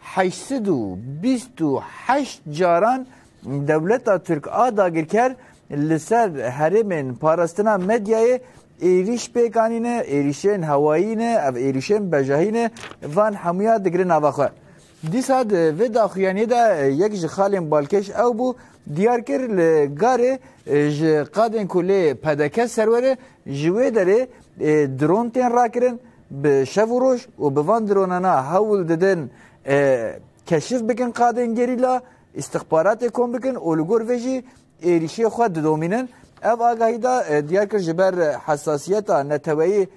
heşt sed û bîst û heşt caran dewleta Tirk a dagirker li ser herêmên parastina medyayê êrîş pêk anîne, êrîşên hewayî ne, ev êrîşên bejahî ne, van hemûya digire nava xwe. Dîsa di vê daxuyaniyê de yek ji xalên balkêş ew bû diyar kir li garê ji qadên ku lê PDK serwer e ji wê derê dron tên rakirin, Bi şev û roj û bi van dronana hewl didin keşif bikin qadên gerîla, îstixbaratê kom bikin û li gor vê jî êrîşê xwe didomînin. Ev agahî da diyar kir ji ber hesasiyeta neteweyî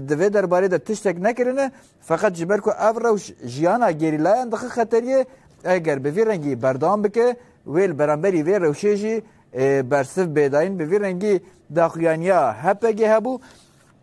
di vê derbarê de tiştek nekirine feqet ji ber ku ev rewş jiyana gerîlayan dixi xeteriyê eger bi vî rengî berdewam bike wê li beramberî vê rewşê jî bersiv bêdayîn bi vî rengî daxuyaniya HPG hebû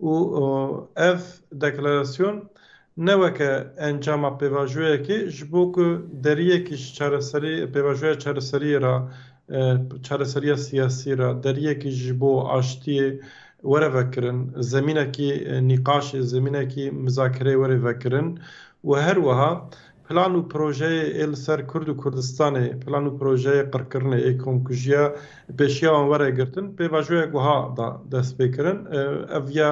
Û ev deklarasyon ne weke encama pêvajoyekê ji bo ku deriyekî ji çareserî pêvajoya çareseriyê re çareseriya siyasî re deriyekî ji bo aştiyê were vekirin, zemînekî nîqaşê, zemînekî mizakereyê were vekirin û her wiha Plan û projeyê ê li ser Kurd û Kurdistanê, plan û projeyê qirkirinê ê komkujiya pêşiya wan were girtin, pêvajoyek wiha da destpêkirin, ev ya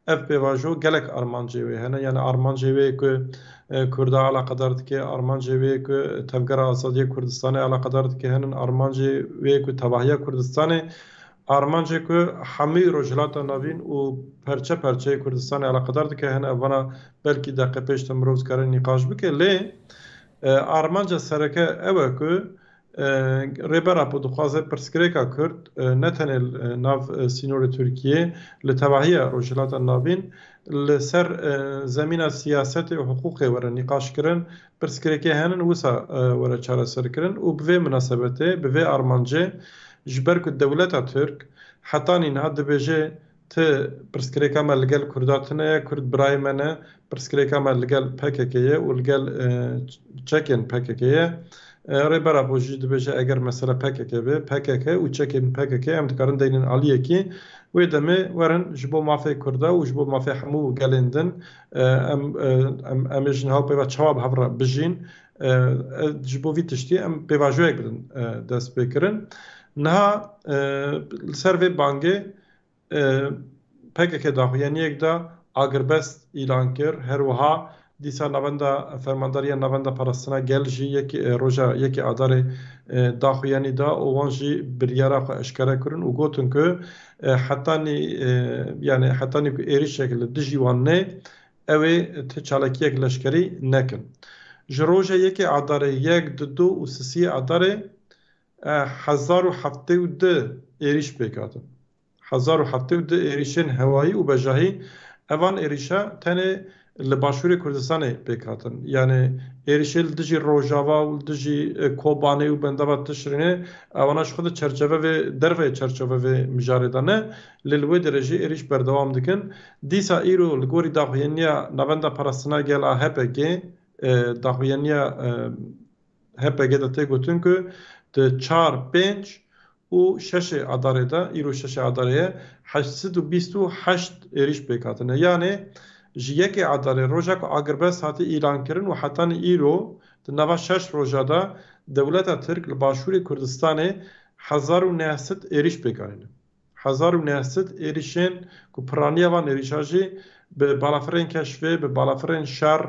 Ev pêvajo gelek armancê wê hene, yanî armancê wê ye ku Kurda eleqedar dike, armancê wê ye ku Tevgera Azadiya Kurdistanê eleqedar dike henin, armancê wê ye ku tevahiya Kurdistanê Armancê ku hemû Rojhilata Navîn û perçe perçeyê Kurdistanê eleqedar dike hene ev vana, belkî deqê pêş de mirov dikare nîqaş bike lê armanca sereke ew e ku Rêber Apo dixwaze pirsgirêka Kurd ne tenê li nav sînorê Tirkiyeyê li tevahiya Rojhilata Navîn li ser zemîna siyasetê û hiqûqê were nîqaşkirin Pirsgirêkê henin wisa were çareserkirin û bi vê minasebetê, bi vê armancê ji ber ku dewleta Tirk heta nîna dibêje ti pirsgirêka me ligel Kurda tune ye, Kurd birayê me ne, pirsgirêka me ligel pkk ye û ligel çekên pkk ye. Rêber Apo jî dibêje eger mesele pkk be, pkk û çekên pkk em dikarin deynên aliyekî. Wê demê werin ji bo mafê Kurda û ji bo mafê hemû gelên din Em em em ê ji niha û peyva çawa bi hev re bijîn ji bo vî tiştî em pêvajoyek bidin dest pê kirin. Niha li ser vê bangê pkk daxuyaniyek da agirbest îlan kir. Her wiha dîsa navenda fermandariya navenda parastina gel jî yek roja yekê adarê daxuyanî da û wan jî biryara xwe eşkere kirin û gotin ku Hetanî yanî hetanî ku êrişek li dijî wan neyê ew ê ti çalakiyek leşkerî nekin. Ji roja yekê Adarê, yek, du, du û sisiyê Adarê hezar û heftê û du êrîş pêk hatin. Hezar û heftê û du êrîşên hewayî û bejahî. Evan êrîşa tenê li başûrê Kurdistanê pêk hatin. Yanê êrişê li dijî Rojava û li dijî Kobanê û bendava Tişrînê ewana ji xwe di çerçeve vê derveyê çerçeve vê mijarê de ne, lê li wê derê jî êrîş berdewam dikin. Dîsa îro li gorî daxuyaniya Navenda Parastina Gel a HPG'ê, daxuyaniya HPG de tê gotin ku di çar, pênc û şeşê Adarê de, îro şeşê Adarê ye, heşt sed û bîst û heşt êrîş pêk hatine. Yanê ji yekê Adarê roja ku agirbest hatiye îlankirin û hetanî îro di nava şeş roja de dewleta Tirk li başûrê Kurdistanê hezar û neh sed êrîş pêk anîne. Hezar û neh sed êrîşên ku piraniya van êrîşa jî bi balafirên keşfê, bi balafirên şer,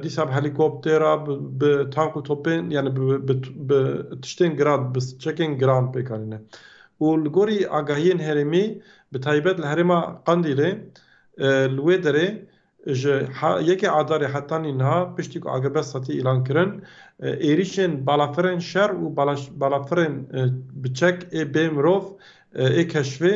dîsa bi helîkoptera, bi tank û topên yanî bi tiştên giran, bi çekên giran pêk anîne. Û li gorî agahiyên herêmî bi taybet li herêma Qandîlê li wê derê Ji yekê Adarê heta nînha piştî ku AGB setî îlan kirin, êrîşên balafirên şer û balafirên bi çek ê bê mirov ê keşvê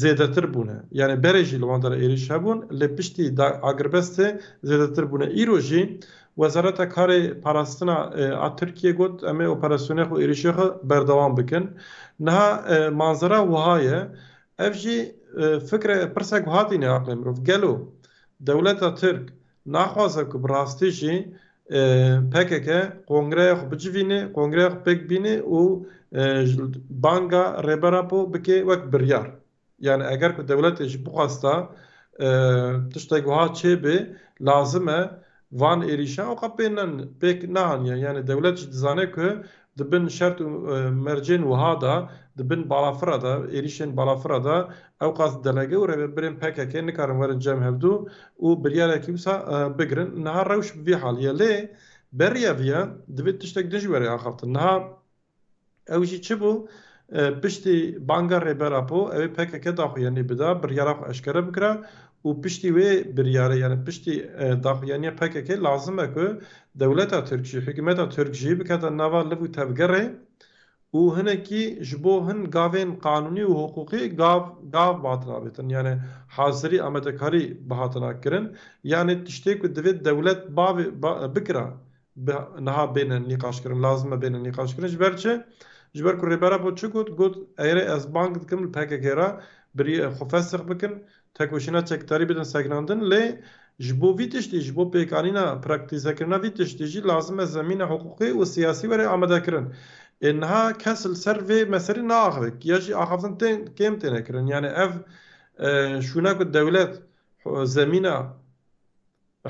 zêdetir bûne. Yanî berê jî li wan derê êrîş hebûn lê piştî Agrbestê zêdetir bûne. Îro jî Wezareta Karê Parastina a Tirkiyê got em ê operasyonê xwe û êrîşê xwe berdewam bikin. Niha manzera wiha ye, Ev jî fikre pirse ku hatîne aqlê mirov, gelo dewleta Tirk naxwaze ku bi rastî jî pkk kongreya xwe bicivîne, kongreya xwe pêk bîne û banga Rêber Apo bike wek biryar. Yanî eger ku dewletê jî bixwesta tiştek wiha çêbê lazim e Van êrîşan oka pê ne pêk neaniye yanî dewlet jî dizane ku di bin şert û mercên wiha de, di bin balafira de, êrîşên balafira de ew qas delege û rêvebirên pkk nikarin werin cem hevdû û biryarekî wisa bigirin. Niha rewş bi vî halî ye. Lê berî ev ye, divê tiştek din ji werê axaftin. Niha. Ew jî çi bû? Piştî banga Rêber Apo ew ê pkk daxuyanî bida, biryara xwe eşkere bikira û piştî wê biryarê yanî piştî daxuyaniya pkk lazim e ku dewleta Tirk jî, hikûmeta Tirk jî bikete nava liv û tevgerê û hinekî ji bo hin gavên qanûnî û hiqûqî gav gav bihatin avêtin yanî hazirî amadekarî bihatina kirin yanî tiştê ku divê dewlet bavê bikira bi niha bêne nîqaşkirin lazim e bêne nîqaşkirin ji ber çi ji ber ku Rêber Apo çi got got erê ez bang dikim li PKK re birî xwe fesex bikin tekoşîna çekdarî bidin sekinandin lê ji bo vî tiştî ji bo pêkanîna praktîzekirina vî tiştî jî lazim e zemîna hiqûqî û siyasî were amadekirin ê niha kes li ser vê meselê naaxive ya jî axaftin tên kêm têne kirin yanî ev şûna ku dewlet zemîna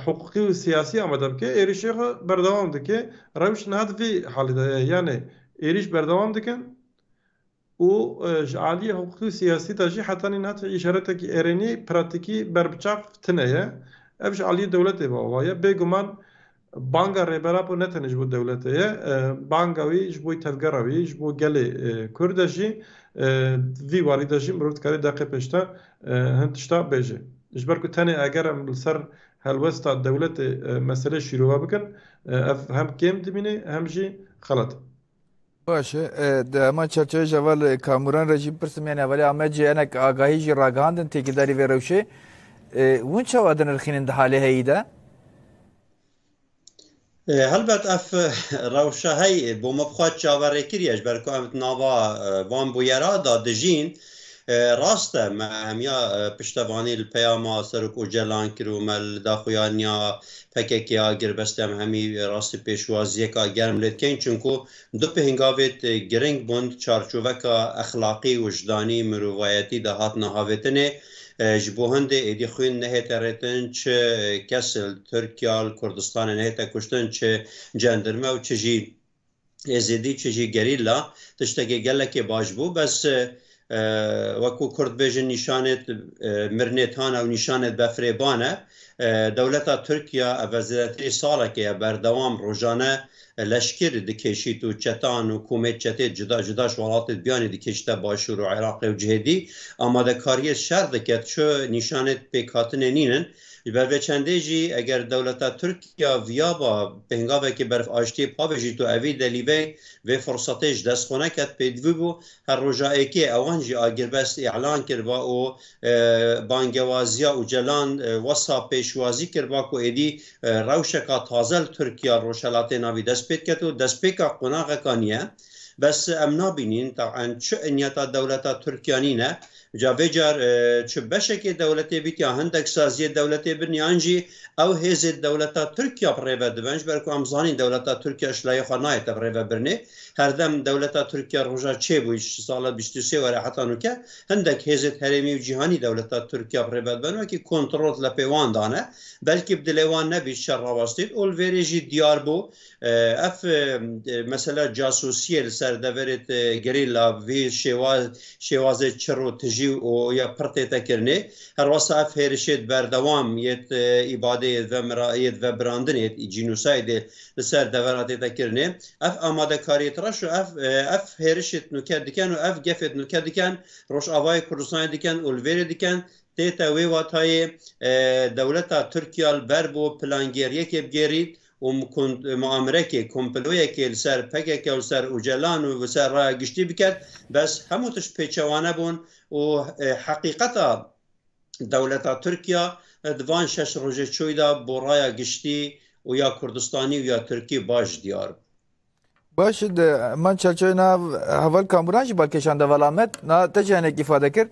Hiqûqî û siyasî amade bike, êrişê xwe berdewam dike. Rewş niha di vê halê de ye. Yanê êriş berdewam dikin û ji aliyê hiqûqî û siyasî de jî heta nîna tu îşaretekî erênî, pratîkî berbiçav tine ye. Ev ji aliyê dewletê ve ava ye. Bêguman banga Rêber Apo ne tenê ji bo dewletê ye. Banga wî ji bo tevgera wî, ji bo gelê Kurd e jî. Di vî warî de jî mirov dikarê deqê pêş de Hin tişta bêje. Ji ber ku tenê eger em li ser helwesta dewletê meselê şîrove bikin, ev hem kêm dimîne hem jî xelet e. Baş e. Di heman çerçeveyê jî heval Kamuran re jî bipirsim yanî hevalê Amed jî hinek agahî jî ragihandin têkildarî vê rewşê. Hûn çawa dinirxînin di halê heyî de? Helbet ev rewşa heyê bo me bi xwe çaverê kiriye ji ber ku em di nava van bûyera de dijîn. Rast e me hemiya piştevanî li peyama Serok Ocalan kir û me li daxuyaniya PKK'ya girbestê em hemî rastî pêşwaziyeka germ lê dikeyin çimku Du pêngavê te girîng bûn, çarçoveka exlaqî, wijdanî, mirovayetî de hat nehavêtinê. Ji bo hindê êdî xwîn nehête rêtin, çi kes li Tirkiya, li Kurdistanê nehête kuştin, çi cendirme û çi jî êzidî, çi jî gerîla. Tiştekê gelekê baş bû, bes Wekû kurd bêjin nîşanêt mirinê tane û nîşanêt befirê bane. Dewleta Tirkiya eve zêdetirî salekê ye berdewam rojane leşkir dikêşît û çetan û komêt çetêt cuda cuda ji welatêt biyanî dikêşite Başûr û Iraqê û cihê dî amadekariyê şer dike çi nîşanêt pêkhatinê nîn in. Ji ber vê çendê jî eger dewleta Tirkiya viyaba pêngavekê berf aştiyê pavêjît û evî delîvey vê firsetê ji dest xwe neket pêdivî bû Her roja êkê ewan jî agirbest îlan kiriba û bangewaziya Ocalan wisa pêşwazî kiriba ku êdî rewşeka taze li Tirkiya Rojhelatê navî dest pê diket û destpêka qonaxekan ye. Bes em nabînîn tab'en çi inyeta dewleta Tirkiya nîne Ca vê car çi beşekê dewletê bît ya hindek saziyê dewletê bin yan jî ew hêzê dewleta Tirkiya bi rêve dibin ji ber ku em zanîn dewleta Tirkiya ji layê xwe nayê te bi rêve birinê. Herdem dewleta Tirkiya roja çê bû ji sala bîst û sê were heta nûke hindek hêzêd herêmî û cîhanî dewleta Tirkiya bi rêve dibin wekî kontrol li pê wan dane. Belkî bi dilê wan nebît şer rawestîn û li vêrê jî diyar bû Ev mesela casûsiyê li ser deverê gerîla vî şêwazê çir û tijî û ya pir tê tekirinê. Her wasa ev hêrişê di berdewam yê îbadê yê di vebirandinê yê jînosaydê li ser dever a tê tekirinê. Ev amadekariyê di reş û ev hêrişê di nûke dikin û ev gefê di nûke dikin, Rojavayê Kurdistanê dikin û li vêrê dikin. Tê te wê watayê dewleta Tirkiya li ber bo plangêriyekê bigêrît û muamirekê, komployekê li ser pkk û li ser Ocalan û li ser raya giştî biket, bes hemû tişt pêçewane bûn û heqîqeta dewleta Tirkiya di van şeş rojê çûy de bo raya giştî û ya Kurdistanî û ya Tirkî baş diyar bû. Baş e de man çerçevê na heval kamuran jî balkêşan de vala me na te jî hinek îfade kir.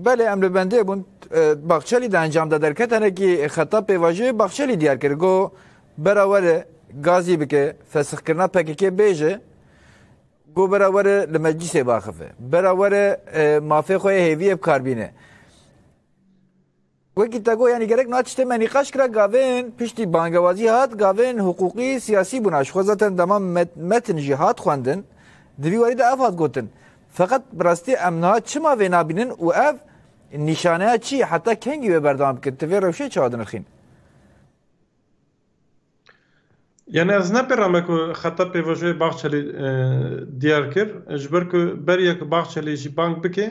Belê em li bendê bûn e, Baxçelî de encam da derket hinekî xeta pêvajoyê Baxçelî diyar kir got bera were gazî bike fesixkirina PKK bêje got bera were li meclîsê biaxife. Bera were e, mafê xwe yê hêviyê bi kar bîne. Wekî te got yanî gerek niha tiştê me nîqaş kira gavên piştî bangewazî hat gavên hiqûqî siyasî bûn a ji xwe zaten dema metin jî hat xwendin di vî warî de ev hat gotin feqet bi rastî em niha çima vê nabînin û ev nîşaneya çi ye heta kengî wê berdewam bikin tu vê rewşê çawa dinirxîn? Yanî ez ne pêra me ku xeta pêvajoyê Bahçelî diyar kir ji ber ku beriya ku Bahçelî jî bang bike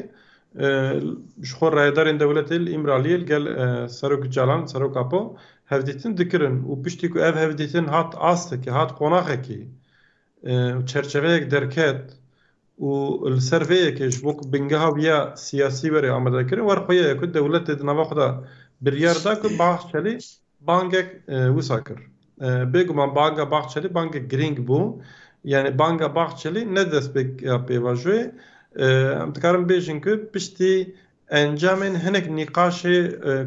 ji xwe rayedarên dewletê li Îmraliyê li gel Serok Ocalan, Serok Apo hevdîtin dikirin û piştî ku ev hevdîtin hat astekê, hat qonaxekê û çerçeveyek derket û li ser vê yekê ji bo ku bingeha wî ya siyasî were amadekirin, wer xwe ye ku dewletê di nava xwe de biryar da ku Bahçelî Bangek wisa kir. Bêguman banga Bahçelî bangek girîng bû. Yanî banga Bahçelî ne destpêk ya pêvajoyê. Em dikarin bêjin ku piştî encamên hinek nîqaşê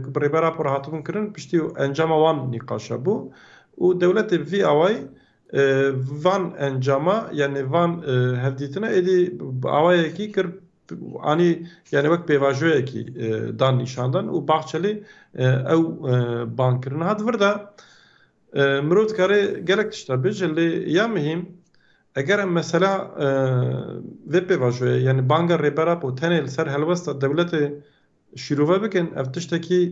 ku bi Rêber Apo re hatibûn kirin, piştî encama wan nîqaşa bû û dewletê vî awayî van encama yanî van hevdîtina êdî bi awayekî kir Anî yanî wek pêvajoyekî dan nîşandan û Bahçelî ew bang kir. Niha di vir de mirov dikarê gelek tişt hebê jî lê ya mihîm eger em mesela vê pêvajoyê yanî banga Rêber Apo tenê li ser helwesta dewletê Şîrove bikin ev tiştekî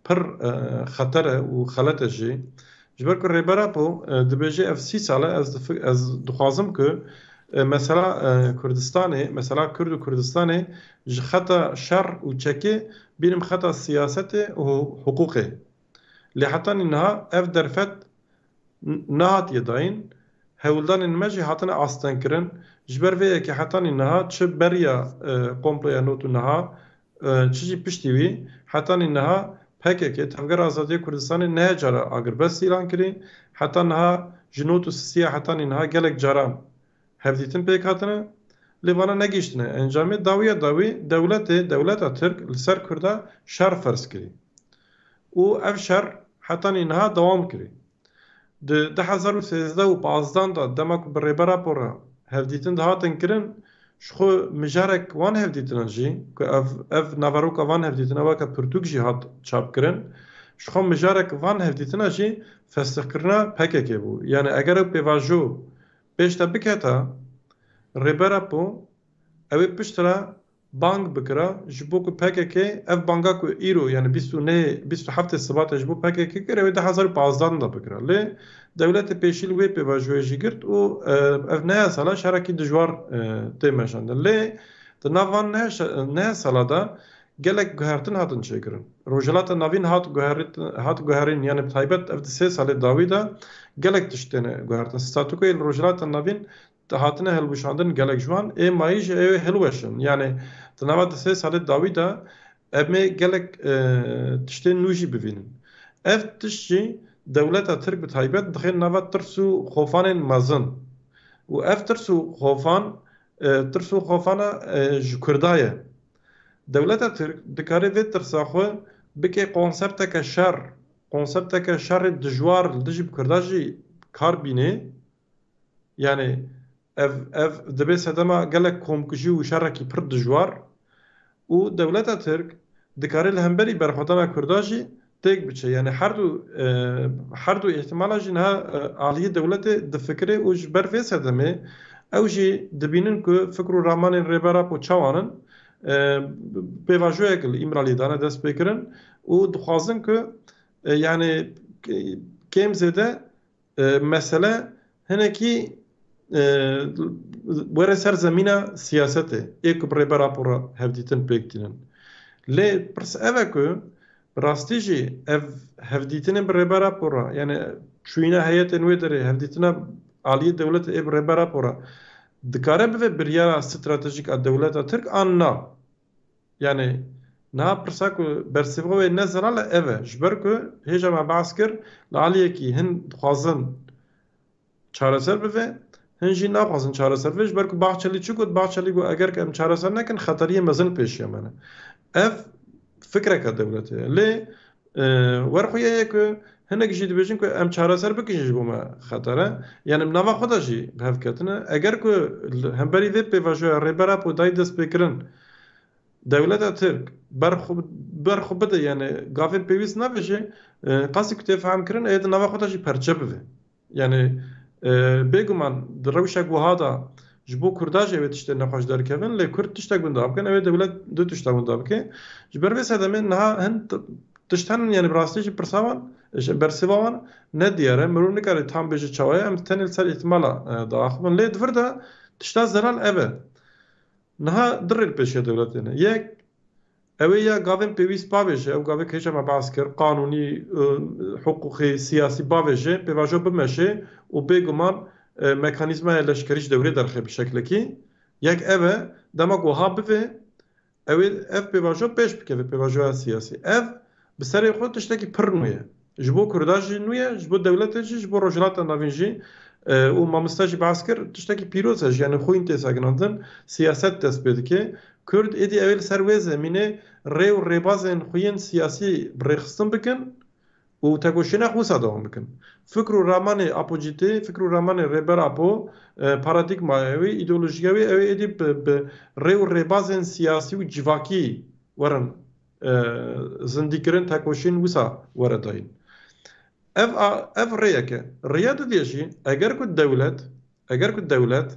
pir xeter e û xelet e jî. Ji ber ku Rêber Apo dibêje ev sî sal e ez ez dixwazim ku mesela Kurdistanê, mesela Kurd û Kurdistanê ji xeta şer û çekê bînim xeta siyasetê û hiqûqê. Lê heta nî niha ev derfet nehatiye dayîn, hewldanên me jî hatine astengkirin. Ji ber vê yekê hetanî niha çi beriya komploya not û niha çi jî piştî wî, hetanî niha pkk, Tevgera Azadiya Kurdistanê nehe cara agirbest îlan kirî, heta niha ji not û sisiya hetanî niha gelek caran Hevdîtin pêk hatine, lê vana negihîştine. Encamê dawiya dawî dewletê, dewleta Tirk li ser Kurda şer ferz kirî û ev şer hetanî niha dewam kirî. Di du hezar û sêzdeh û pazdeh de dema ku bi rêbera por re hevdîtin dihatin kirin, ji xwe mijarek wan hevdîtinan jî ku ev ev naveroka van hevdîtina weke pirtûk jî hat çap kirin, ji xwe mijarek van hevdîtina jî festixkirina PKK'ê bû. Yanî eger ew pêvajo Pêş te biketa Rêber Apo ew ê piştre bang bikira ji bo ku pkk ev banga ku îro yanî bîst û neyê bîst û heftê Sibatê ji bo pkk kir ew ê du hezar û pazdeh de bikira lê dewletê pêşîl wê pêvajoyê jî girt û ev nehe sala şerekî dijwar tê meşandin lê di nav van nehe sala de Gelek guhertin hatin çêkirin. Rojhilata Navîn hat hat guherîn yanî bi taybet ev di sê salê dawî de gelek tişt têne guhertin. Statukoyê li Rojhilata Navîn hatine hilwişandin gelek ji wan ê mayî jî ew ê hilweşin. Yanî di nava di sê salê dawî de em ê gelek tiştên nû jî bivînin. Ev tişt jî dewleta Tirk bi taybet dixên nava tirs û xofanên mezin û ev tirs û xofan tirs û xofana ji Kurda ye. Dewleta Tirk dikare vê tirsa xwe bike konsepteke şer, konsepteke şerê dijwar li dijî bi Kurda jî bi kar bînê. Yanî ev ev dibe sedema gelek komkujî û şerekî pir dijwar û dewleta Tirk dikare li hemberî berxwedana Kurda jî têk biçe. Yanî her du her du îhtimalan jî niha aliyê dewletê difikire û ji ber vê sedemê ew jî dibînin ku fikr û ramanên Rêber Apo çawan in pêvajoyek li Îmraliyê dane destpêkirin û dixwazin ku yanî kêm zêde Mesele hinekî were ser zemîna siyasetê ê ku bi rê bera pora hevdîtin pêk tînin. Lê pirs ev e ku bi rastî jî ev hevdîtinên bi rê bera pora yanî çûyîna heyetên wê derê hevdîtina aliyê dewletê ê bi rê bera pora dikare bibe biryara stratejîk a dewleta tirk an na? Yanî niha pirsa ku bersîva wê ne zelal e ev e, ji ber ku hêja me behs kir li aliyekî hin dixwazin çareser bibe, hin jî naxwazin çareser bibe ji ber ku Bahçelî çi got, Bahçelî got eger ku em çareser nekin xeteriyên mezin li pêşiya me ne. Ev fikreke dewletê ye. Lê Werxwîyê ye ku hinek jî dibêjin ku em çareser bikin jî ji bo me xeter e. Yanî bi nava xwe de jî bi hev ketine. Eger ku li hemberî vê pêvajoya Rêber Apo dayî destpêkirin dewleta Tirk ber xwe bide yanî gavên pêwîst navêje, qasî ku tê fehemkirin ê di nava xwe de jî perçe bibe. Yanî bêguman di rewşa ku wiha de ji bo Kurda jî ew tiştên nexweş derkevin lê Kurd tiştek winda bikin ew ê dewlet du tişta winda bike. Ji ber vê sedemê niha hin tişt henin yanî bi rastî jî pirsa wan ji bersêva wan ne diyar e. Mirov nikare tam bêje çawa ye. Em tenê li ser îhtimala diaxivin. Lê di vir de tişta zelal ev e. Niha du rê li pêşiya dewletê ne. Yek Ew ê ya gavên pêwîst bavêje, ew gavê hêja me behs kir, qanûnî, hiqûqî, siyasî bavêje, pêvajo bimeşê û bêguman mekanîzmaya leşkerî ji dewrê derxe bi şeklekî. Yek ev e, dema ku wiha bivê, ew ê ev pêvajo pêş bikeve, pêvajoya siyasî. Ev bi serê xwe tiştekî pir nû ye. Ji bo Kurda jî nû ye, ji bo dewletê jî, ji bo Rojhilata Navîn jî û mamoste jî behs kir, tiştekî pîroz e, jiyanê xwîn tê sekinandin, siyaset dest pê dike. Kurd êdî ew ê li ser wê zemînê rê û rêbazên xwe yên siyasî bi rêxistin bikin û tekoşîna xwe wisa dewam bikin. Fikr û ramanê Apocîtê, fikr û ramanê Rêber Apo, paradîgmaya wê, îdeolojiya wê ew ê êdî bi rê û rêbazên siyasî û civakî werin Zindîkirin tekoşîn wisa were dayîn. Ev a ev rêyek e. Rêya di dê jî eger ku dewlet eger ku dewlet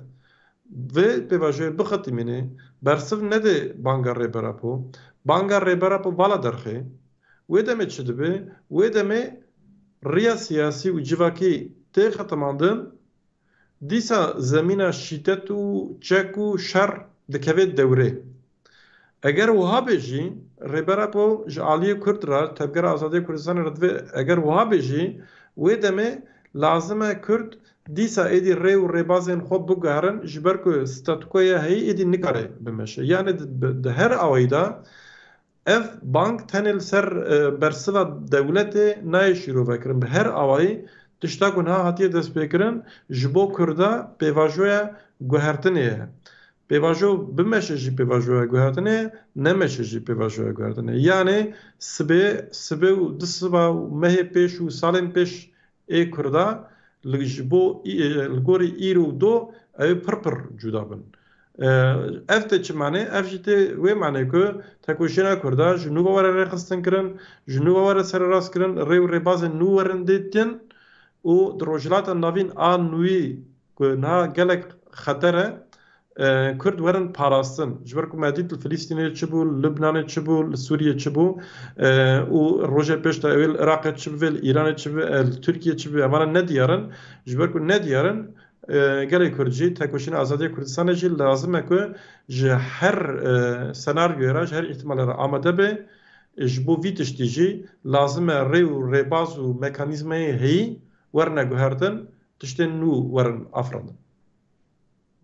vê pêvajoyê bixetimînê bersiv nedê banga Rêber Apo, banga Rêber Apo vala derxê, wê demê çi dibe? Wê demê rêya siyasî û civakî tê xetimandin Dîsa zemîna şîdet û çek û şer dikevê dewrê. Eger wiha bê jî, Rêber Apo ji aliyê Kurd re, Tevgera Azadiya Kurdistanê re divê eger wiha bê jî, wê demê lazim e Kurd dîsa êdî rê û rêbazên xwe biguherin ji ber ku statukoya heyî êdî nikare bimeşe. Yanê di her awayî de Ev bang tenê li ser bersiva dewletê nayê şîrovekirin. Bi her awayî tişta ku niha hatiye destpêkirin ji bo Kurda pêvajoya guhertinê ye. Pêvajo bimeşe jî pêvajoya guhertinê ye, nemeşe jî pêvajoya guhertinê ye. Yanê sibê, sibê û du siba û mehê pêş û salên pêş Ê Kurda li ji bo li gorî îro û do ew ê pir pir cuda bin. Ev tê çi manê? Ev jî tê wê manê ku tekoşîna Kurda ji nû ve were rêxistin kirin, ji nû ve were sererast kirin, rê û rêbazên nû werin dîtin û di Rojhilata Navîn a nûyî Ku niha gelek xeter e Kurd werin parastin. Ji ber ku me dît li Filîstînê çi bû, li Lubnanê çi bû, li Sûriyê çi bû û rojê pêş de ewê li Iraqê çi bivê, li Îranê çi bivê, li Tirkiyê çi bivê hemana ne diyar in. Ji ber ku ne diyar in gelê Kurd jî, tekoşîna azadiya Kurdistanê jî lazim e ku ji her senaryoyê re, ji her îhtimalê re amade bê. Ji bo vî tiştî jî lazim e rê û rêbaz û mekanîzmayê heyî werine guhertin Tiştên nû werin afirandin.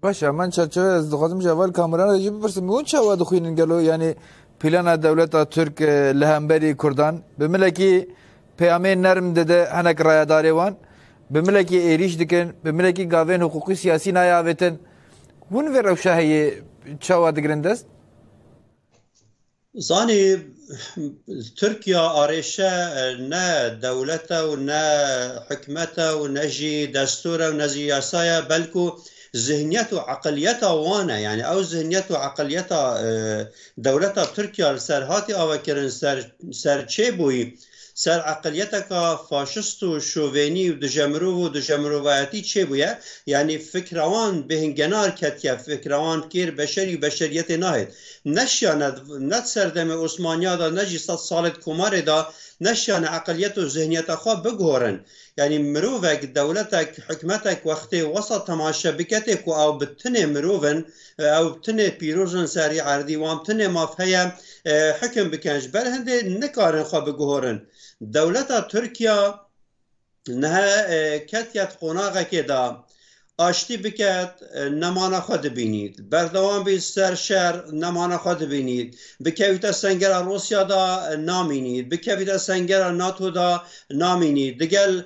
Baş e man çerçeve ez dixwazim ji heval kameran re jî bipirsim hûn çawa dixwînin gelo yanî plana dewleta Tirk li hemberî Kurdan bi milekî peyamê nerm dide hinek rayedarê wan bi milekî êrîş dikin bi milekî gavên hiqûqî siyasî nayê avêtin hûn vê rewşa heye çawa digirin dest Zanî Tirkiya arêşe ne dewlet e û ne hikûmet e û ne jî destûr e û ne jî yasa ye belkû zihniyet û eqiliyeta wan e. Yanî ew zihniyet û eqiliyeta dewleta Tirkiya li ser hatî avekirin ser çê bûyî. Ser eqiliyeteka faşist û şovenî û duje mirov û duje mirovayetî çêbûye, yanî fikra wan bêhn genar ketiye, fikra wan kêr beşerî û beşeriyetê nahêt. Ne şiyane ne di ser demê Osmaniya de ne jî sed salê di komarê de ne şiyane eqiliyet û zihniyeta xwe biguhorin. Yanî mirovek, dewletek, hikmetek wextê wesa temaşe biketê ku ew bi tinê mirov in, ew tinê pîroz in serî erdî wan tinê maf heye hikim bikin ji ber hindê nikarin xwe biguhorin. Dewleta Tirkiya niha ketiye di qonaxekê de aştî biket nemana xwe dibînî. Berdewam bî ser şer nemana xwe dibînî. Bikevîte sengera Rûsya de namînî. Bikevîte sengera NATO de namînî. Digel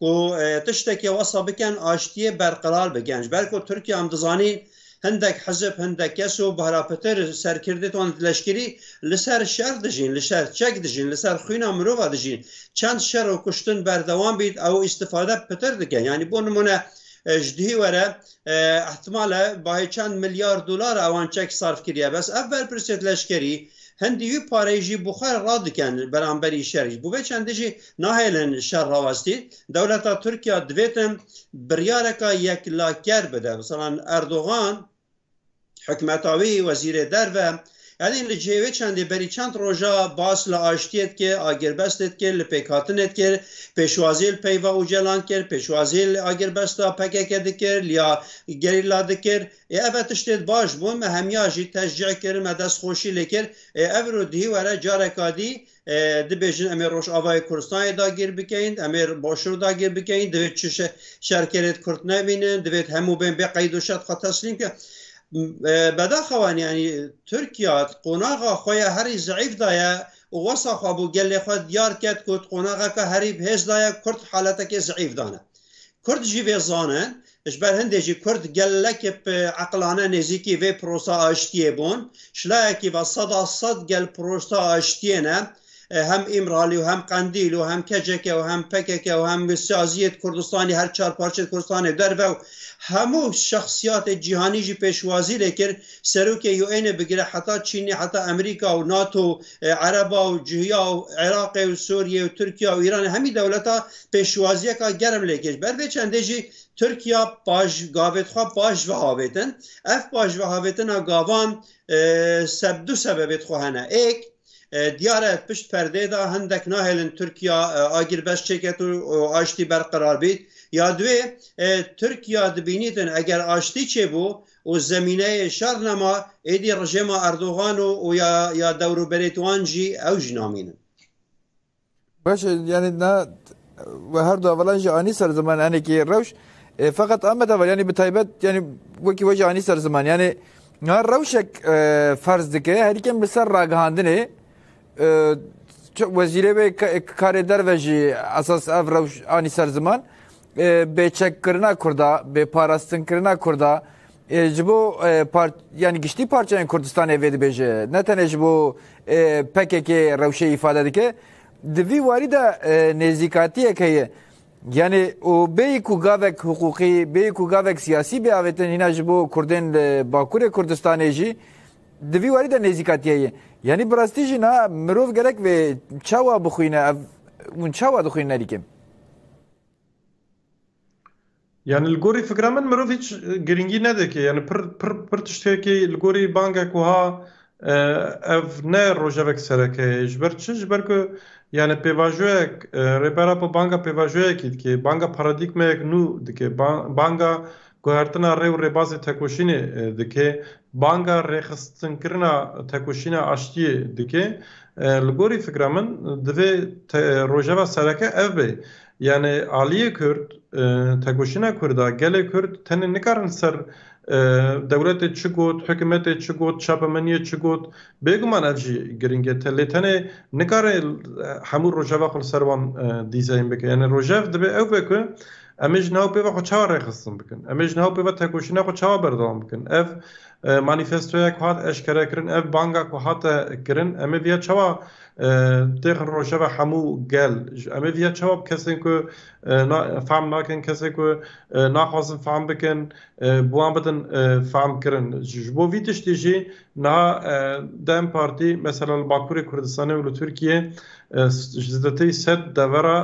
Ku tiştekî wesa bikin aştiyê berqerar bikin. Ji ber ku Tirkiye em dizanîn hindek hizib, hindek kes û bihra pitir serkirdê wan û leşkerî li ser şer dijîn, li ser çek dijîn, li ser xwîna mirova dijîn. Çend şer û kuştin berdewam bît ew îstîfade pitir dikin. Yanî bo nimûne ji duhî were îhtimal e bahê çend milyar dolar ewan çek sarf kiriye. Bes ev berpirsiyet leşkerî hindî wî pareyê jî bi xwe re radikin beramberî şer jî. Bi vê çendê jî Nahêlin şer rawestî, dewleta Tirkiya divêtin biryareka yeklaker bide. Misalan Erdogan hikûmeta wî, wezîrê derve Elî li cihê wê çendê berî çend roja bas li aştiyê dike, agirbestê dike, li pêkhatinê dike, pêşwazî li peyva Ocalan kir, pêşwazî li agirbesta pkk dikir, liya gerîla dikir. Ê ev e tiştê baş bûn, me hemiya jî teşcî kir, me destxweşî lê kir. Ê ev îro dihî were careka dî dibêjin em ê Rojavayê Kurdistanê dagir bikein, em ê Başûr dagir bikein, divê çi şerkerê di Kurd nebînin, divê hemû bên bê qeyd û şert xwe teslîm bikin. Bedaxewan yanî Tirkiya qonaxa xwe ya herî zeîf da ye û wesa xwe bo gelê xwe diyar ket ku qonaxeke herî hêz da ye Kurd haletekê zeîf dane. Kurd jî vê zanin. Ji ber hindê jî Kurd gelekê bi eqlane nêzîkî vê pirosa aştiyê bûn. Şilayekî ve seda sed gel pirosa aştiyê ne. Hem Îmralî û hem Qendîl û hem KCK û hem pkk û hem Siyaziyê di Kurdistanê her çar parçe di Kurdistanê derve û hemû şexsiyatê cîhanî jî pêşwazî lê kir serokê UNê bigire heta Çînê heta Emerîka û nato û ereba û cihya û Iraqê û Sûriyê û Tirkiya û Îranê hemî dewleta pêşwaziyeka germ lê kir. Ber vê çendê jî Tirkiya baş gavêt xwe baş vehavêtin. Ev baş vehavêtina gavan e, seb du sebebêt xwe hene. Êk e, diyar e pişt perdê de hindek nahêlin Tirkiya e, agir beş çêket û û aştî berqrar bît. Ya duwê e, Tirkiya dibînîtin eger aştî çêbû û zemîneyê şer nema êdî rejêma Erdogan û û ya ya dewroberêt wan jî ew jî namînin. Baş yani na ve her du hevalan jî anî ser ziman enekî rewş feqet amet heval yani bi taybet yani wekî we jî anî ser ziman yani na rewşek ferz dike herîkem li ser ragihandinê wezîrê wê karê derve jî esas ev rewş anî ser ziman bêçekkirina Kurda, bêparastinkirina Kurda ji bo yanî giştî parçeyên Kurdistanê vê dibêje ne tenê ji bo PKK rewşê îfade dike. Di vî warî de nêzîkatiyek heye. Yanî û bêyî ku gavek hiqûqî, bêyî ku gavek siyasî bê avêtin hîna ji bo Kurdên li Bakurê Kurdistanê jî di vî warî de nêzîkatiye ye. Yanî bi rastî jî na mirov gerek vê çawa bixwîne ev hûn çawa dixwînin erî kim? Yani li gorî fikra min mirov hiç girîngî nedike yani pir pir pir tiştekî li gorî bangek wiha ev ne rojevek sereke ye ji ber çi ji ber ku yani pêvajoyek Rêbera Xwe banga pêvajoyekî dike banga paradîgmeyek nû dike banga Guhertina rê û rêbazê tekoşînê dike, banga rêxistinkirina tekoşîna aştiyê dike. Li gorî fikra min divê rojeva sereke ev be. Yanê aliyê Kurd, tekoşîna Kurd a, gelê Kurd tenê nikarin ser dewletê çi got, hikûmetê çi got, çapemeniyê çi got, bêguman ev jî girîngiyete lê tenê nikare hemû rojeva xwe li ser wan dîzayn bike. Yanê rojev divê ew be ku Em ê ji nav pê ve xwe çawa rêxistin bikin? Em ê ji nav pê ve tekoşîna xwe çawa berdewam bikin? Ev manîfestoya ku hat eşkerekirin, ev banga ku hate kirin, em ê vêya çawa têxin rojeva hemû gel? Em ê vêya çawa bi kesên ku fehm nakin, kesên ku naxwazin fehm bikin, bi wan bidin fehmkirin? Ji bo vî tiştî jî Niha dem Partî mesela li Bakurê Kurdistanê û li Tirkiyê ji zêdetî sed devera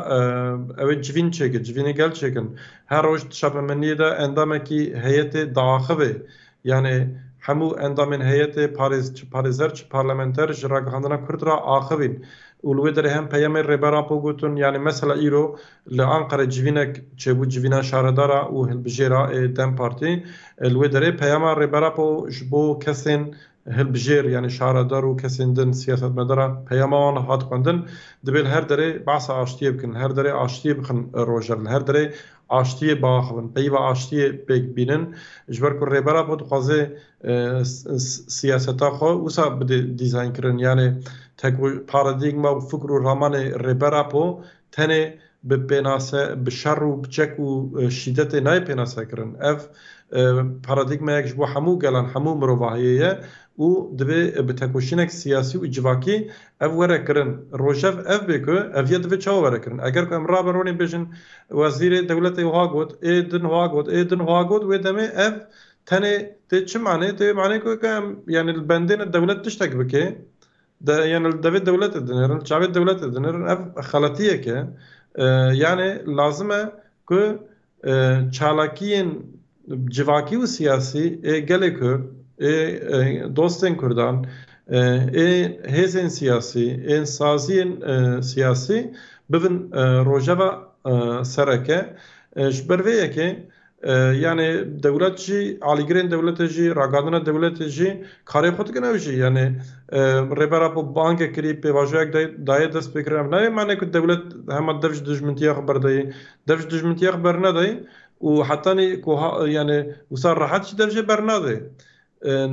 ew ê civîn çêkin, civînê gel çêkin. Her roj di çapemeniyê de endamekî heyetê diaxivê. Yanê hemû endamên heyetê parêz çi parêzer çi parlamenter ji ragihandina Kurd re axivîn. Û li wê derê hem peyamê Rêber Apo gotin yanê mesela îro Li Anqerê civînek çêbû civîna şaredara û hilbijêra ê dem Partî. Li wê derê peyama Rêber Apo ji bo kesên hilbijêr yanî şaredar û kesên din siyasetmedara peyama wan hat xwendin, Dibê li her derê behsa aştiyê bikin, li her derê aştiyê bixin rojer, li her derê aştiyê biaxivin, peyva aştiyê pêk bînin. Ji ber ku Rêber Apo dixwaze siyaseta xwe wisa bide dîzaynkirin yanê teko paradîgma û fikr û ramanê Rêber Apo Tenê bi pênase, bi şer û bi çek û şîdetê nayê pênasekirin. Ev paradîgmayek ji bo hemû gelan, hemû mirovahiyê ye û divê bi tekoşînek siyasî û civakî ev were kirin. Rojev ev bê ku ev ye divê çawa were kirin. Eger ku em rabe ronê bêjin wezîrê dewletê wiha got, ê din wiha got, ê din wiha got wê demê ev tenê tê çi manê? Tê wê manê ku em yanî li bendê ne dewlet tiştek bike De yani li devê dewletê dinêrin, çavê dewletê dinêrin ev xeletiyek e. Yani lazim e ku çalakiyên civakî û siyasî ê gelê Kurd, ê dostên Kurdan, ê hêzên siyasî, ê saziyên siyasî bibin rojeva sereke. Ji ber vê yekê Yanê dewlet jî alîgirên dewletê jî ragihandina dewletê jî karê xwe dikin ew jî yanê rêbera xwe bangek kirî pêvajoyek dayê dest pêkirin ev nayê manê ku dewlet hema dev ji dijmintiya xwe berdayê dev ji dijmintiya xwe bernedayê û hetanî ku yanê wisa rehet jî dev jê bernadê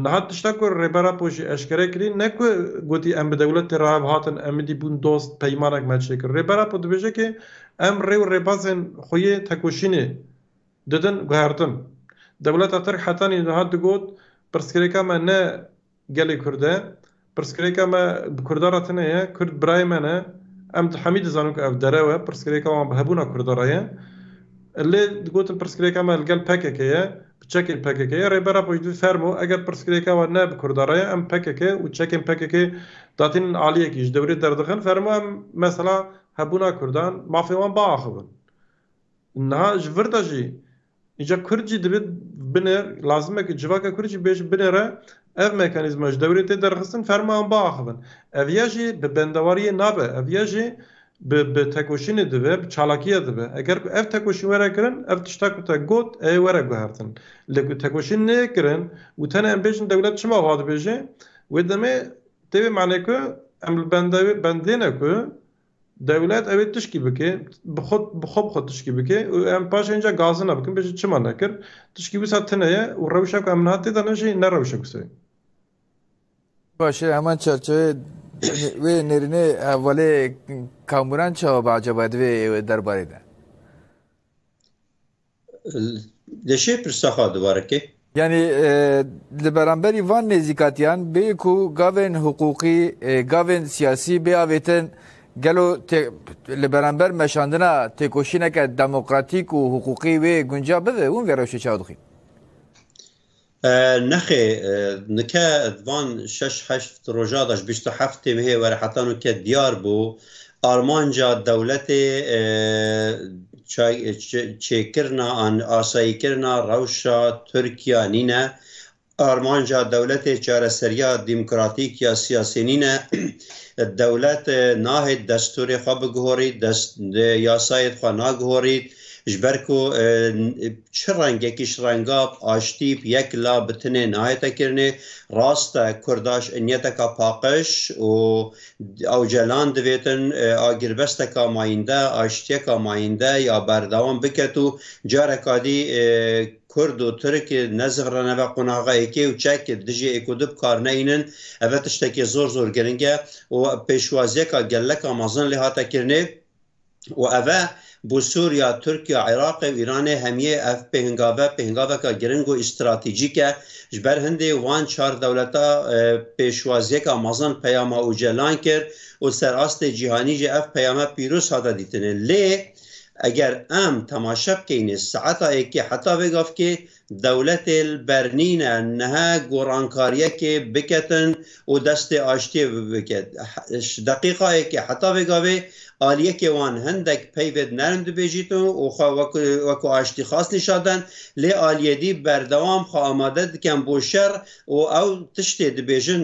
Niha tişta ku Rêber Apo jî eşkere kirî ne ku gotî em bi dewletê re hev hatin, Emidî bûn dost, peymanek me çêkir. Rêber Apo dibêje ke em rê û rêbazên xwe yê tekoşînê didin guhertin. Dewleta Tirk heta nîha digot pirsgirêka me ne gelê Kurd e, Pirsgirêka me bi Kurdan re tune ye, Kurd birayê me ne, em di hemî dizanin ku ev derew e, pirsgirêka wan bi hebûna Kurdan re ye. Lê digotin pirsgirêka me li gel pkk ye, bi çekên pkk ye, Rêbera Xweş divî fermo, eger pirsgirêka we ne bi Kurdan re ye, em pkk û çekên pkk datînin aliyekî ji dewrê derdixin, fermo em mesela hebûna Kurdan, mafê wan biaxivin. Niha ji vir de jî. Îca Kurd jî divê binê lazim e ku civaka Kurd jî bêje binê re ev mekanîzma ji dewrê tê derxistin ferma wan biaxivin. Ev ya jî bi bendewariyê nabe, ev ya jî bi bi tekoşînê dibe, bi çalakiya dibe. Eger ku ev tekoşîn were kirin, ev tişta ku te got ê were guhertin. Lê ku tekoşîn neyê kirin û tenê em bêjin dewlet çima wiha dibêje, wê demê tê vê manê ku em li bendewê bendê ne ku Dewlet ew ê tişkî bike, bi xwe bi xwe bi xwe tişkî bike û em paşê înca gazina bikin, bêjin çima nekir? Tişkî wisa tune ye û rewşa ku em niha tê de ne jî ne rewşek wisa ye. Baş e, heman çerçeveyê wê nêrînê hevalê Kamuran çawa be ecaba divê derbarê de? Leşê pirsa xwe dubare ke. Yani li beramberî van nêzîkatiyan bê ku gavên hiqûqî, gavên siyasî bê avêtin gelo li beramber meşandina têkoşîneke demokratîk û hiqûqî wê gunca bibe? Hûn vê rewşê çawa dixwîn? Nexê, nike van şeş heşt roja de ji bîst û heft têmihê were heta nu ke diyar bû armanca dewletê çêkirina an asayîkirina rewşa Tirkiya nîne, armanca dewletê çareseriya demokratîk ya siyasî nîne. Dewlet nahêt destûrê xwe biguhorît, yasayêd xwe nagihorît, Ji ber ku çi rengekî ji rengab, aştîb, yek la bi tinê nayete kirinê. Rast e Kurda ji inyeteka paqij û ewcelan divêtin agirbesteka mayînde, aştiyeka mayînde ya berdewam biket û careka dî Kurd û Tirk nezixirene ve qonaxa êkê û çek dijî êk û di bikarnehînin. Eve tiştekê zor zor giring e û pêşwaziyeka geleka mezin lê hate kirinê. û ev e bo Sûriya, Tirkiya, Iraqê û Îranê hemiyê ev pêhngave pêhngaveke giring û îstratejîk e. Ji ber hindê wan çar dewleta pêşwaziyeke mezin peyama Ocalan kir û ser astê cîhanî jî ev peyame pîroz hate dîtinê. Lê eger em temaşe bikeynê saeta êkê heta vê gavkê Dewletê li ber nîne niha gorankariekê biketin û destê aştiyê bibike. Ji deqîqayekê heta vê gavê aliyekê wan hindek peyvê di nerm dibêjîtin û xwe wekû aştîxwaz nîşan den lê aliyedî berdewam xwe amade diken bo şer û ew tiştê dibêjin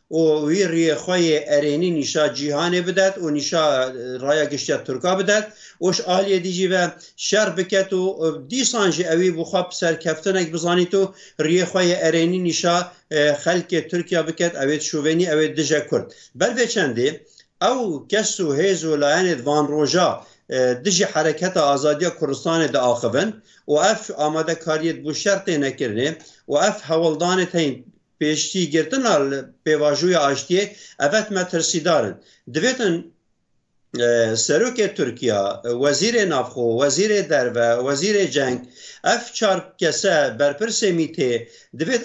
û wî riyê xwe yê erênî nîşa cîhanê bidet û nîşa raya giştiya Tirka bidet û ji aliyê dî jî ve şer biket û dîsan jî ewî bi xwe serkeftinek bizanît û riyê xwe yê erênî nîşa xelkê Tirkiya biket ewê di şovenî ewê dije Kurd. Ber vê çendê ew kes û hêz û layenê di van roja dijî hereketa azadiya Kurdistanê de axivin û ev amadekariyê di bo şer têne kirinê û ev hewldanê teyên Pêşîgirtina li pêvajoya aştiyê evet metirsîdar in. Divêtin Serokê Tirkiya, Wezîrê Navxwe, Wezîrê Derve, Wezîrê Ceng ev çar kese berpirsê MÎT'ê divêt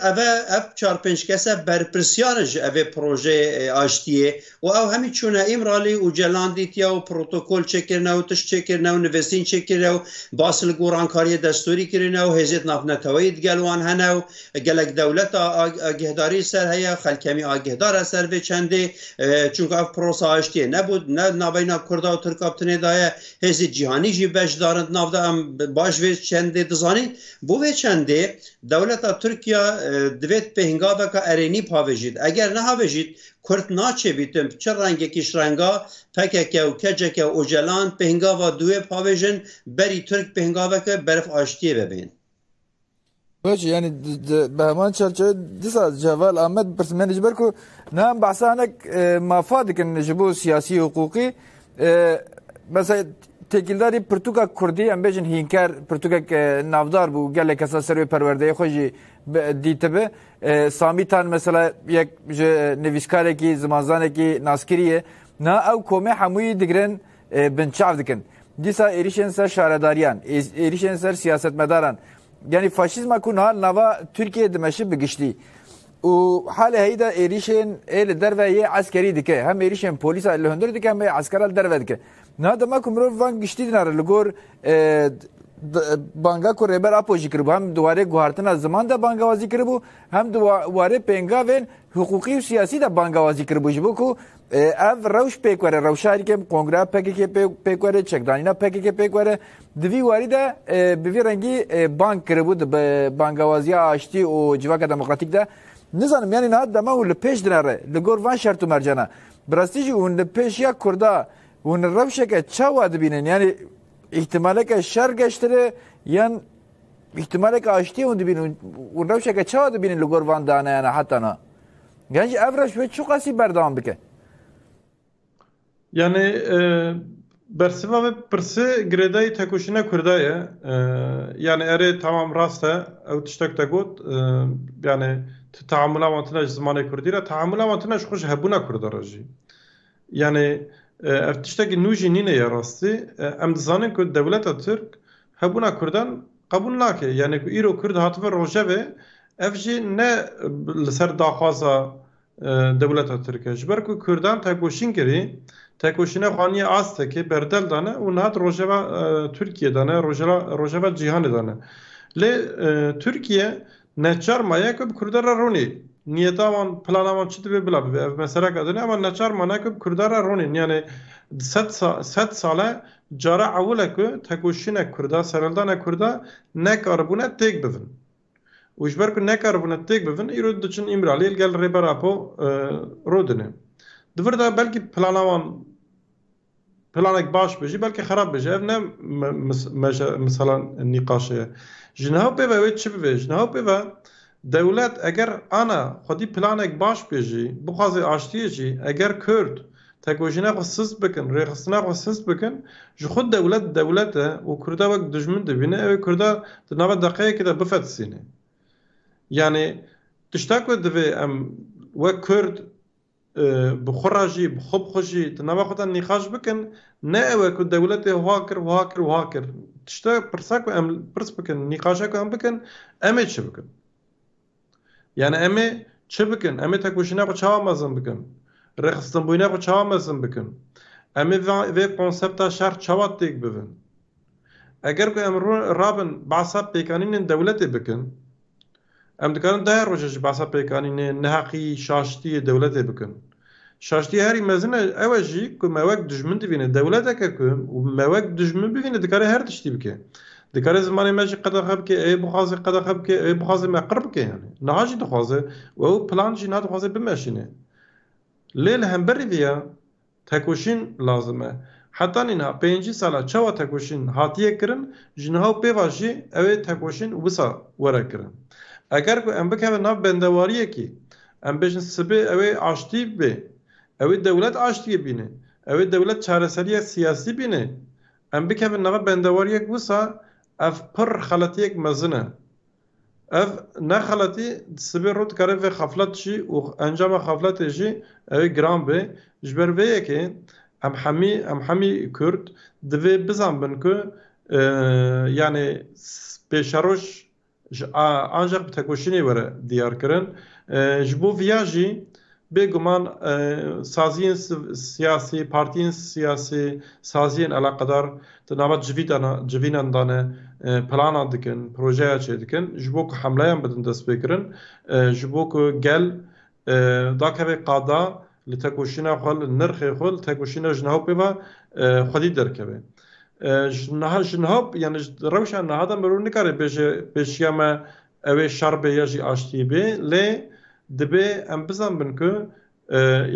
ev çar pênc kese berpirsyar in ji evê projeyê aştiyê û ew hemî çûne Îmralî û Celan dîtiye û protokol çêkirine û tişt çêkirine û nivîsîn çêkirine û bas li gorankariyê destûrî kirine û hêzê di navneteweyî digel wan hene û gelek dewleta agîhdarî li ser heye, xelk hemî agîhdar e ser vê çendê çunka ev pirosa aştiyê nebû ne di navbeyna kurda û tirka bi tinê de ye hêzê cîhanî jî beşdarin di nav de em baş vê çendê dizanîn. Bo vê çendê dewleta Tirkiya divêt pêhngaveka erênî pavêjît eger nehavêjît Kurd naçebîtin bi çi rengekîş renga pkk û kck û ocalan pêngava duê pavêjin berî Tirk pêngaveke berf aştiyê ve bên. Baş yani bi heman çerçeve disa Ceval Ahmet birsmeni ji ber ku nihan behsa hinek e, mafa dikin ji bo siyasî hukûqî e, mesela tekîldarî pirtûka Kurdî em bêjin hînker pirtûkek e, navdar bû gelek kesa ser wê perwerdeyê xwe jî dîtibi Samî Tan mesela yek ji nivîskarekî, zimanzanekî naskirî ye. Na ew komê hemûyî digirin binçav dikin. Dîsa êrîşên ser şaredariyan, êrîşên ser siyasetmedaran. Yanî faşîzma ku niha nava Tirkiyeyê dimeşi bi giştî. û halê heyî de êrîşên ê li derve yê eskerî dike. Hem êrîşên polîsa li hundir dike hem ê eskera li derve dike. Niha dema ku mirov van giştî dinare li gor banga ku Rêber Apo jî kiribû hem di warê guhartina ziman de bangewazî kiribû hem di warê pêngavên hiqûqî û siyasî de bangewazî kiribû ji bo ku ev rewş pêk were rewşa herî kêm kongra PKK pêk were çekdanîna PKK pêk were di vî warî de bi vî rengî bang kiribû di bangewaziya aştî û civaka demokratîk de nizanim yanî niha dema û li pêş dinare li gor van şert û mercana Bi rastî jî hûn li pêş ya Kurda hûn rewşeke çawa dibînin? Yanî îhtimaleke şer geştire yan îhtimaleke aştiyê hûn dibînin hûn rewşeke çawa dibînin li gor van daneyana heta na? Yan jî ev reş wê çi qasî berdewam bike? Yani Bersiva vê pirsê girêdayî tekoşîna Kurda ye. Yanî erê temam rast e. Ew tiştek te got. Yanî tu teamûla wan tune ji zimanê Kurdî re, teamûla wan tune ji xwe ji hebûna Kurda re jî. Yanî ev tiştekî nû jî nîne ya rastî. Em dizanin ku dewleta Tirk hebûna Kurdan qebûl nake. Yanî ku îro Kurd hatibe rojevê ev jî ne li ser daxwaza Dewleta Tirk e. Ji ber ku Kurdan tekoşîn kirî, tekoşîna xwe anîye astekê, berdel dane û niha di rojeva Tirkiyê de ne, rojeva rojeva cîhanê de ne. Lê Tirkiye neçar maye ku bi Kurdan re ronî. Niyeta wan, plana wan çi dibe bila bibe. Ev meseleka din e ama neçar mane ku bi Kurdan re ronîn. Yanê di sed sal sed sal e cara ewil e ku tekoşîna Kurda, sereldana Kurda nekaribûne têk bivin. û ji ber ku nekaribûne têk bibin îro diçin Îmraliyê li gel Rêber Apo rûdine. Di vir de belkî plana wan planek baş be jî belkî xerab be jî ev ne misala nîqaşê ye. Ji niha pê ve wê çi bibe? Ji niha pê ve dewlet eger ana xwedî planek baş bê jî, bixwaze aştiyê jî eger Kurd, Tekoşîna xwe sist bikin, rêxistina xwe sist bikin, ji xwe dewlet dewlet e û Kurda wek dijmin dibîne, ew ê Kurda di nava deqeyekê de bifetisîne. Yanî tişta ku divê em wek Kurd bi xwe re jî, bi xwe bi xwe jî di nava xwe de nîqaş bikin, ne ew e ku dewletê wiha kir, wiha kir, wiha kir. Tişta pirsa ku em pirs bikin, nîqaşa ku em bikin, em ê çi bikin? Yani emê çi bikin? Emê tekoşîna xwe çawa mezin bikin? Rêxistinbûyîna xwe çawa mezin bikin? Emê vê konsepta şer çawa têk bivin? Eger ku em rabin behsa pêkanînên dewletê bikin, em dikarin dayê roje jî behsa pêkanînê, neheqî, şaştiyê dewletê bikin. Şaştiyê herî mezin e ew e jî ku me wek dijmin dibîne. Dewleteke ku me wek dijmin bibîne dikare her tiştî bike. Dikare zimanê me jî qedexe bike, ewê bixwaze qedexe bike, ewê bixwaze me qir bike yanî. Niha jî dixwaze û ew plan jî niha dixwaze bimeşîne. Lê li hemberî vê ya tekoşîn lazim e. Heta nîna pêncî sal e çawa tekoşîn hatiye kirin ji niha û pêva jî ew ê tekoşîn wisa were kirin. Eger ku em bikevin nav bendewariyekî Em bêjin sibê ew ê aştî bê. Ew ê dewlet aştiyê bîne. Ew ê dewlet çareseriya siyasî bîne. Em bikevin nava bendewariyek wisa ev pirr xeletiyek mezin e. Ev ne xeletî sibê rû dikare vê xeflet jî û encama xefletê jî ew ê giran bê. Ji ber vê yekê em hemî em hemî Kurd divê bizanbin ku yanê pêşeroj Ji ancaq bi tekoşînê were diyar kirin. Ji bo viya jî bêguman saziyên siyasî, partiyên siyasî, saziyên eleqedar di nava civînan de ne planan dikin, projeya çêdikin ji bo ku hemleyan bidin destpêkirin, ji bo ku gel Dakeve qada li tekoşîna xwe li nirxê xwe li tekoşîna jinhawpê ve xwedî derkeve. Ji niha jinhawp yanî ji rewşa niha de mirov nikare bêje pêşiya me ew ê şer bê ya jî aştiyê bê lê dibê em bizanbin ku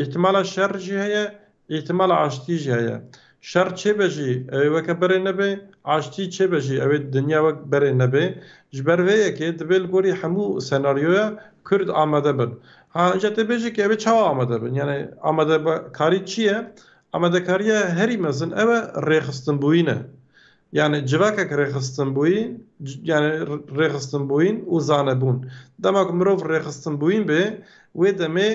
îhtimala şer jî heye Îhtîmala aştiyê jî heye. Şer çêbe jî ew ê weke berê nebe, aştî çêbe jî ew ê dinya wek berê nebe. Ji ber vê yekê divê li gorî hemû senaryoya Kurd amade bin. Ha înca tê bêje ke ew ê çawa amade bin? Yanî amadekarî çi ye? Amadekariya herî mezin ew e rêxistinbûyîn e. Yanî civakek rêxistinbûyî yanî rêxistinbûyîn û zanebûn. Dema ku mirov rêxistinbûyîn bê wê demê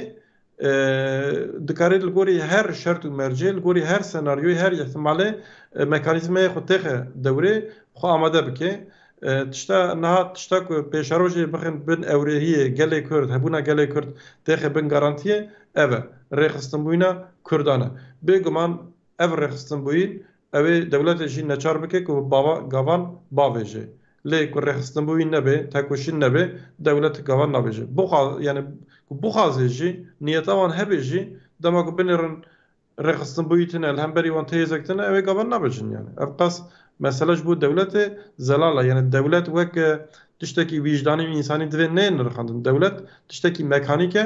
Dikarê li gorî her şert û mercê, li gorî her senaryoyê, her îhtimalê mekanîzmayê xwe têxe dewrê, xwe amade bike. Tişta niha tişta ku pêşerojê bixin bin ewrehiyê gelê Kurd, hebûna gelê Kurd têxe bin garantiyê ev e, rêxistinbûyîna Kurdan e. Bêguman ev rêxistinbûyîn Ew ê dewletê jî neçar bike ku gavan bavêje. Lê ku rêxistinbû wî nebe, tekoşîn nebe, dewlet gavan nabêje. Bixwa yanî ku bixwazê jî, niyeta wan hebe jî, dema ku binêrin rêxistinbû yî tune, li hemberî wan têhêzek tune, ew ê gavan nabêjin. Yanî ev qas mesele ji bo dewletê zelal e. Yanî dewlet wek tiştekî wîjdanî û însanî divê neyê nirxandin. Dewlet tiştekî mekanîk e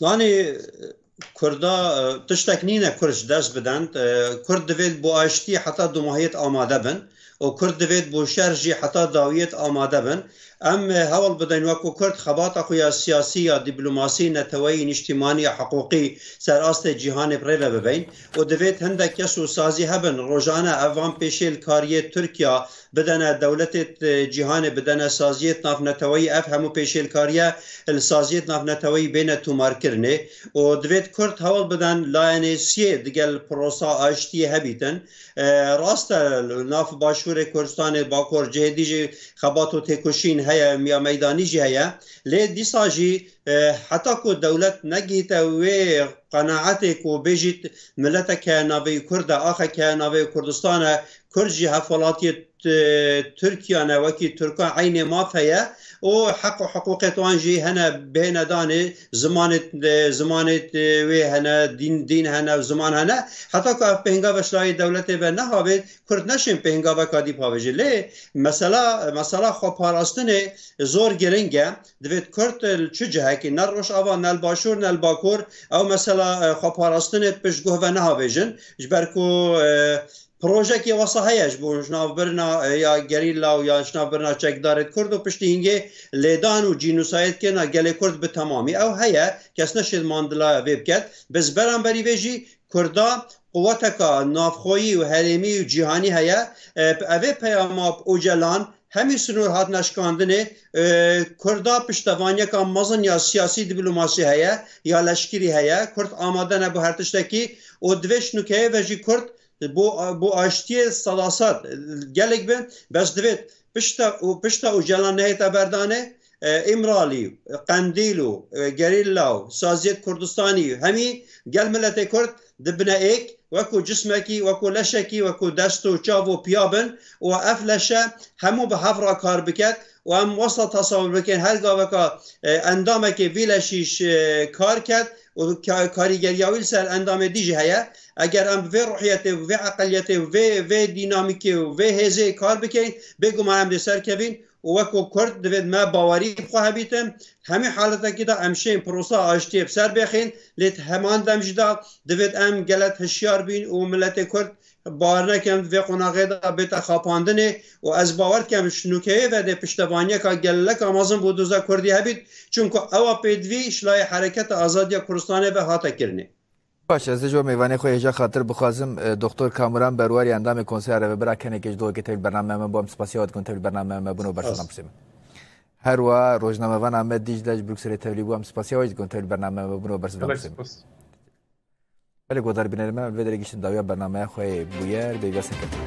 Danê Kurda tiştek nîne Kurd ji dest bidin. Kurd divêt bo aştî heta domahiyet amade bin û Kurd divêt bo şer jî heta dawiyet amade bin. Em hewl bidin weko Kurd xebata xwe ya siyasî ya dîplomasî, neteweyî, nîştîmanî ya hiqûqî ser astê cîhanê bi rê ve bibein û divêt hindek kes û sazî hebin rojane ev van pêşê li kariyê Tirkiya bidene dewletê cîhanê, bidene saziyê navneteweyî, ev hemû pêşêlkariye li saziyê navneteweyî bêne tûmarkirinê û divêt kurd hewl bidin layene siyê digel pirosa aştiyê hebîtin. Rast e li nav başûrê Kurdistanê, bakor cihê dî jî xebat û têkoşîn heye, miya meydanî jî heye lê dîsa jî heta ku dewlet negihîte wê qenaetê ku bêjît mileteke navê kurd e, axeke navê Kurdistan e, Kurd jî hevwelatiyê Tirkiya ne wekî Tirkan eynê maf heye û heq û hiqûqê wan jî hene bihêne danê zimanê zimanê wê hene dîn dîn hene û ziman hene heta ku ev pêngave ji dayê dewletê ve nehavêt Kurd neşên pêngaveka dî pavêje lê mesela mesela xwe parastinê zor giring e divêt Kurd li çi cihekî ne Rojava ne li Başûr ne li Bakur ew mesela xwe parastinê pişt guh ve nehavêjin ji ber ku Projeyekê wesa heye ji bo jinavbirina ya gerîla û ya jinavbirina çekdarê di Kurd û piştî hingê lêdan û cînûsayê dikirina gelê Kurd bi temamî ew heye, kes ne şêdmandilaya vê biket. Bi ji beramberî vê jî Kurda quweteka navxweyî û herêmî û cîhanî heye. Bi evê peyama Ocalan Hemî sinor hatina şikandinê, Kurda piştevanyeka mezin ya siyasî dîplomasî heye ya leşkerî heye. Kurd amade ne bo her tiştekî û divê ji nûkeyê ve jî Kurd bo aştiyê sedased gelek be. Bes divêt pişta Ocalan nehêta berdanê Îmralî, Qendîl û gerîlla û saziyek Kurdistanî hemî gel miletê Kurd di bine êk wekû cismekî, wekû leşekî, wekû dest û çav û piya bin û ev leşe hemû bi hev ra kar biket û em wasta tasewir bikin her gaveka endamekê vî leşî kar ket û karîgeriya wî li ser endamê dî jî heye. Eger em bi vê ruhiyetê û bi vê eqeliyetê û vê vê dînamîkê û vê hêzê kar bikin bêguman em dê serkevîn û weko Kurd divê me bawerî bi xwe hebîtin. Hemî haletekî de em şên pirosa aştiyê bi ser bêxin lê di heman dem jî de divê em gelek hişyar bîn û miletê Kurd bar nekin di vê qonaxê de bête xapandinê û ez bawer dikim şinokeyê vedê piştevaniyeka geleka mezin bo doza Kurdî hebît çimku ewa pêdivî şilayê Hereketa Azadiya Kurdistanê ve hate kirinê. Baş ez ji bo mêvanê xwe yê ji xatir bixwazim Doktor Kamuran Berwar yê endamê Konseya Revebira kenekê ji dogekê tevlî bernameya me bû em spasiya we dikin tevlî bernameya me bûn û bersivan pirsê min. Her wa rojnamevan Amed Dîcle ji Brukselê tevlî bû em spasiya we jî dikin tevlî bernameya me bûn û bersivan pirsê min. Belê godarî binêrê me vê derê giştin dawiya bernameya xwe yê bûyer bêvîya serkeftin.